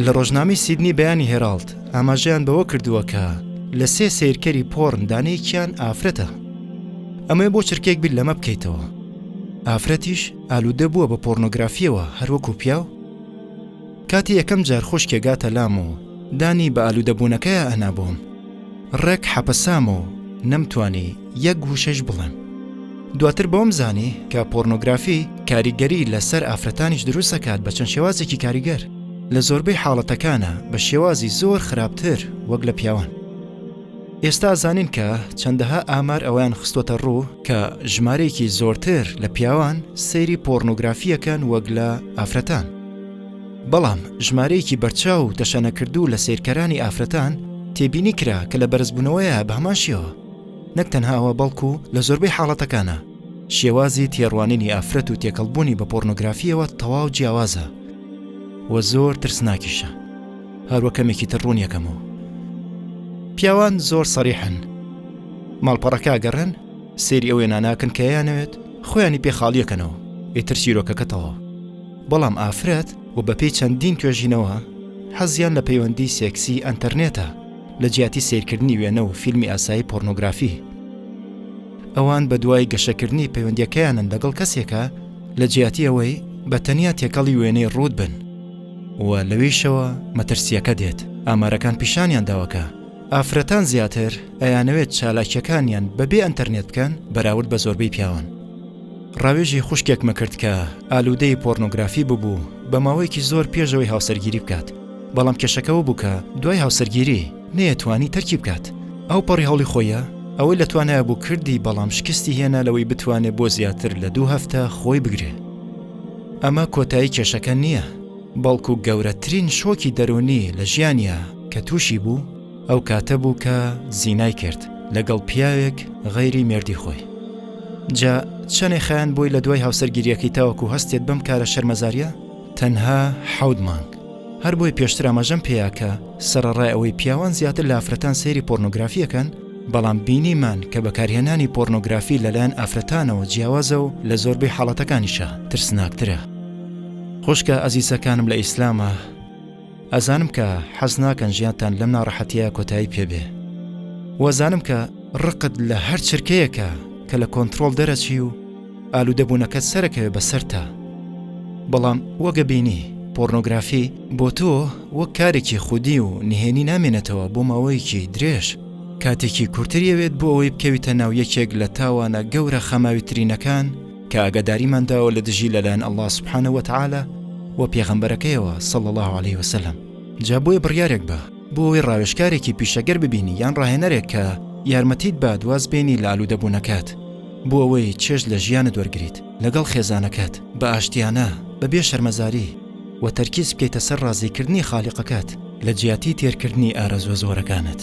لە ڕۆژنامەی سیدنی بەیانی هێراڵد ئاماژەیان بەوە کردووە کە لە سێ سیرکەری پۆڕن دانەیەکیان ئافرەتە ئەمەێ بۆ چرکێک بیر لەمە بکەیتەوە ئافرەتیش ئالوودە بووە بە پۆرنۆگرافیەوە هەروەکو پیاو کاتی یەکەم جار خوشکێ گاتە لام و دانی بە ئالوودەبوونەکەیا ئەنا بۆم، ڕێک حەپەسام و نەمتوانی یەک وشەش بڵێم. دواتر بەوەم زانی کە پۆرنۆگرافی کاریگەری لە سەر ئافرەتانیش دروست ئەکات بە چەند شێوازێکی کاریگەر، لە زۆربەی حاڵەتەکانا بە شێوازی زۆر خراپتر وەک لە پیاوان. ئێستا ئەزانین کە چەندەها ئامار ئەوەیان خستووەتە ڕوو کە ژمارەیەکی زۆرتر لە پیاوان سەیری پۆرنۆگرافی ئەکەن وەک لە ئافرەتان. بەڵام ژمارەیەکی بەرچاو و تەشەنەکردوو لە سەیرکەرانی ئافرەتان تێبینی کرا کە لە بەرزبوونەوەیە بە هەمان شێوە نەک تەنهاوە بەڵکو لە زۆربەی حاڵەتەکانە شێوازی تێڕوانینی ئافرەت و تێکەڵبوونی بە پۆرنۆگرافیەوە تەواو جیاوازە و زۆر ترسناکیشە هەروە کەمێکی تر ڕوون یەکەمەوە پیاوان زۆر سەریحن ماڵپەڕەکە گەڕێن سێری ئەوێ ناناکن کە یانەوێت خۆیانی پێ خاڵیەکەنەوە ئیتر چیرۆکەکە تەواو بەڵام ئافرەت و بەپێی چەندین توێژینەوە حەزیان لە پەیوەندی سێکسی ئەنتەرنێتە لە جیاتی سەیرکردنی وێنە و فیلمی ئاسایی پۆرنۆگرافی ئەوان بە دوای گەشەکردنی پەیوەندیەکەیانن لەگەڵ کەسێکە لە جیاتی ئەوەی بە تەنیا تێکەڵی وێنەی ڕووت بن و لەویشەوە مەترسیەکە دێت ئامارەکان پیشانیان داوە کە ئافرەتان زیاتر ئەیانەوێت چالاکیەکانیان بەبێ ئەنتەرنێت بکەن بەراورد بە زۆربەی پیاوان. ڕاوێژی خوشکێکمە کرد کە ئالوودەی پۆرنۆگرافی ببوو بە ماوەیەکی زۆر پێشەوەی هاوسەرگیری بکات بەڵام کێشەکەەوە بوو کە دوای هاوسەرگیری نەیەتوانی تەرکی بکات ئەو پەڕی هەوڵی خۆیە ئەوەی لە توانایە بوو کردی بەڵام شکستی هێنا لەوەی بتوانێت بۆ زیاتر لە دوو هەفتە خۆی بگرێ ئەمە کۆتایی کێشەکە نییە بەڵکو گەورەترین شۆکی دەرونی لە ژیانە کە تووشی بوو ئەو کاتە بوو کە زینای کرد لەگەڵ پیاوێک غەیری مێردی خۆی جا چەنێ خیان بۆی لە دوای هاوسەرگیریەکەی تاوەکو هەستێت بەم کارە شەرمەزاریە تەنها حەود مانگ هەر بۆی پێشتر ئاماژەم پێیاکە سەرڕای ئەوەی پیاوان زیاتر لافرەتان سەیری پۆرنۆگرافیەکەن بەڵام بینیمان کە بەکارهێنانی پۆرنۆگرافی لەلایەن ئافرەتانەوە جیاوازە و لە زۆربەی حاڵەتەکانیشە ترسناکترە خوشکە ئەزیزەکانم لە ئیسلامە ئەزانم کە حەز ناکەن ژیانتان لەم ناڕەحەتیە کۆتایی پێبێ وەزانم کە ڕقت لە هەر چرکەیەکە کە لە کۆنتترۆل دەرەچی و ئالوودەبوونەکە سەرەکەوێ بەسەر تا بەڵام وەگە بینی پۆرنۆگرافی بۆ تۆ وەک کارێکی خودی و نهێنی نامێنێتەوە بۆ ماوەیەکی درێژ کاتێکی کورتریەوێت بۆ ئەوەی بکەویتە ناو یەکێک لە تاوانە گەورە خەماویترینەکان کە ئاگاداریمان داوە لە دژی لەلایەن اللە سبحانە وتعالی و پێغەمبەرەکەیەوە صلی اللە علیه وسلم جا بۆیە بڕیارێک بە بۆ ئەوەی ڕاوێژکارێکی پیشەگەر ببینی یان ڕاهێنەرێک کە یارمەتیت بات واز بێنی لە ئالوودەبوونەکەت بۆ ئەوەی چێژ لە ژیانت وەرگریت لەگەڵ خێزانەکەت بە ئاشتیانە بەبێ شەرمەزاری و تەرکیز بکەیتە سەر ڕازیکردنی خالیقەکەت لە جیاتی تێرکردنی ئارەزوە زۆرەکانت.